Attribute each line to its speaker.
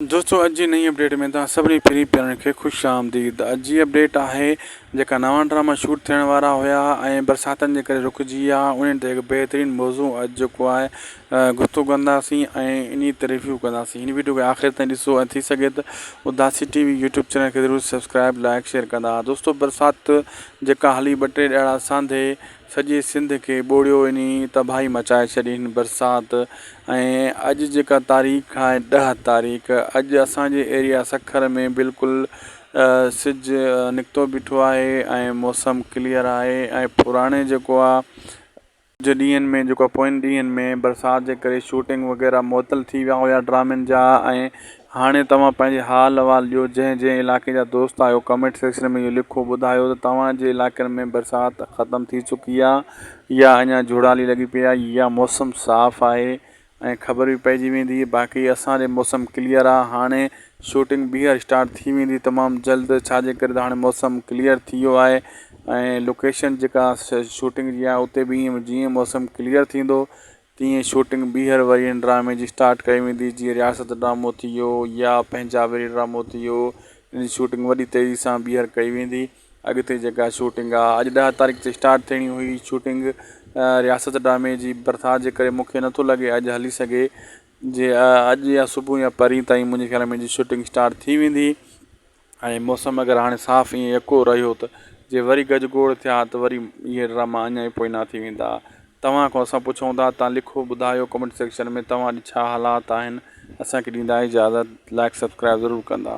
Speaker 1: دوستو اڄ جي نئين اپڊيٽ ۾ توهان سڀني پھرين پيارن کي خوش آمديد اڄ جي اپڊيٽ آھي جيڪا نوان ڊراما شوٽ ٿيڻ وارا ھيا ۽ برساتن جي ڪري رڪجي ويا انھن تي ھڪ بهترين موضوع اڄ جيڪو آھي گفتگو ڪنداسين ۽ انھي تي ريويو ڪنداسين ھن وڊيو کي آخر تائين ڏسو ۽ ٿي سگهي ته Udasi T V YouTube channel کي ضرور سبسڪرائب لائڪ شيئر ڪندا دوستو برسات جيڪا ھلي ٻه ٽي ڏھاڙا سانڌي سڄي سنڌ کي ٻوڙيو انهي تباهي مچائي ڇڏي هن برسات ۽ اڄ جيڪا تاريخ آهي ڏهه تاريخ اڄ اسان جي ايريا سکر ۾ بلڪل سج نڪتو بيٺو آهي ۽ موسم ڪليئر آهي ۽ پراڻي جيڪو آ جي ڏينهن ۾ جيڪو پوئين ڏينهن ۾ برسات جي ڪري شوٽنگ وغيره معطل ٿي ويا هيا ڊرامن جا ۽ هاڻي توهان پنهنجي حال احوال ڏيو جنهن جنهن علائقي جا دوست آهيو ڪمينٽ سيڪشن ۾ اهو لکو بدايو ته توهان جي علائقن ۾ برسات ختم ٿي چڪي آ يا اڃا جهڙالي لڳي پئي آ يا موسم صاف آهي ۽ خبر به پئجي ويندي باقي اسان ڏي موسم ڪليئر آ هاڻي شوٽنگ بيهر اسٽارٽ ٿي ويندي تمام جلد ڇاجي ڪري ته هاڻي موسم ڪليئر ٿي ويو آهي ۽ لوڪيشن جيڪا شوٽنگ جي آ اتي به جيئن موسم ڪليئر ٿيندو تيئن شوٽنگ ٻيهر وري ان ڊرامي جي اسٽارٽ ڪئي ويندي جيئن رياست ڊرامو ٿي ويو يا پنهنجا ويري ڊرامو ٿي ويو ان جي شوٽنگ وڏي تيزي سان ٻيهر ڪئي ويندي اڳتي جيڪا شوٽنگ آ اڄ ڏهه تاريخ تي اسٽارٽ ٿيڻي هئي شوٽنگ رياست ڊرامي جي برسات جي ڪري مونکي نه ٿو لڳي اڄ هلي سگهي جي اڄ يا صبح يا پرين تائين منهنجي خيال ۾ ان جي شوٽنگ اسٽارٽ ٿي ويندي. ۽ موسم اگر هاڻي صاف ائين يڪو رهيو ته جي وري گج گوڙ ٿيا ته وري اهي ڊراما اڃا ئي پوئنا ٿي ويندا. توهان کان اسان پڇون ٿا تان لکو ٻڌايو ڪمينٽ سيڪشن ۾ توهان ڏي ڇا حالات آهن اسان کي ڏيندا اجازت لائيڪ سبسڪرائيب ضرور ڪندا.